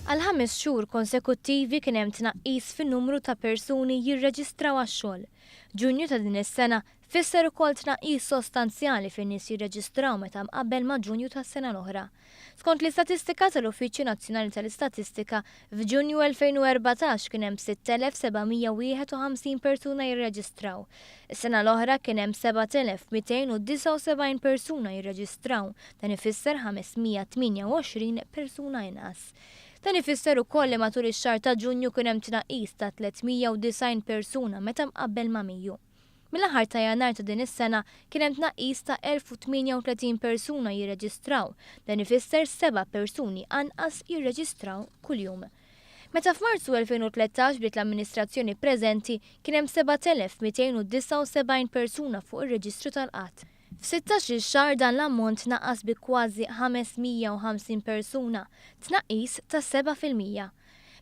Għal ħames xhur konsekuttivi kien hemm tnaqqis fin-numru ta' persuni jirreġistraw għax-xogħol. Ġunju ta' din is-sena fisser ukoll tnaqqis sostanzjali fin-nies jirreġistraw meta mqabbel ma' Ġunju tas-sena l-oħra. Skont l-istatistika tal-Uffiċċju Nazzjonali tal-Istatistika, F'Ġunju 2014 kien hemm 6,751 persuna jirreġistraw. Is-sena l-oħra kien hemm 7,279 persuna jirreġistraw, dan ifisser 528 persuna inqas. Dan ifisser ukoll li matul ix-xahar ta' Ġunju kien hemm tnaqqis ta' 390 persuna meta mqabbel ma' Mejju. Mill-aħħar ta' Jannar ta' din is-sena kien hemm tnaqqis ta' 1,038 persuna jirreġistraw, dan ifisser seba' persuni anqas jirreġistraw kuljum. Meta f'Marzu 2013 bdiet l-amministrazzjoni preżenti kien hemm 7,279 persuna fuq ir-reġistru tal-qgħad. F'sittax-il xahar dan l-ammont tnaqqas bi kważi 550 persuna, tnaqqis ta' seba' fil-mija.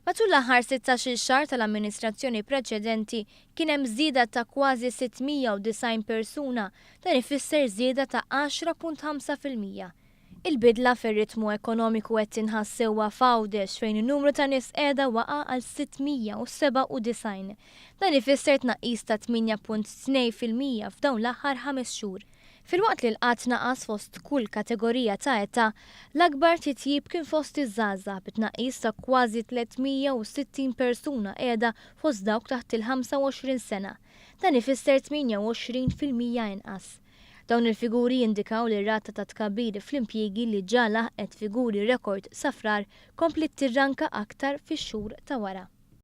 Matul l-aħħar sittax-il xahar tal-amministrazzjoni preċedenti kien hemm żieda ta' kważi 690 persuna, dan ifisser żieda ta' għaxra punt ħamsa fil-mija. Il-bidla fir-ritmu ekonomiku qed tinħass sewwa f'Għawdex fejn in-numru ta' nies qiegħda waqa' għal 697. Dan ifisser tnaqqis ta' 8.2 fil-mija f'dawn l-aħħar ħames xhur. Filwaqt li l-qgħad naqas fost kull kategorija ta' età, l-akbar titjib kien fost iż-żgħażagħ bi tnaqqis ta' kważi 360 persuna qiegħda fost dawk taħt il-25 sena. Dan ifisser 28 fil-mija inqas. Dawn il-figuri jindikaw li r-rata ta' tkabbir fl-impjiegi li ġa laħqet figuri rekord sa Frar kompliet tirranka aktar fix-xhur ta' wara.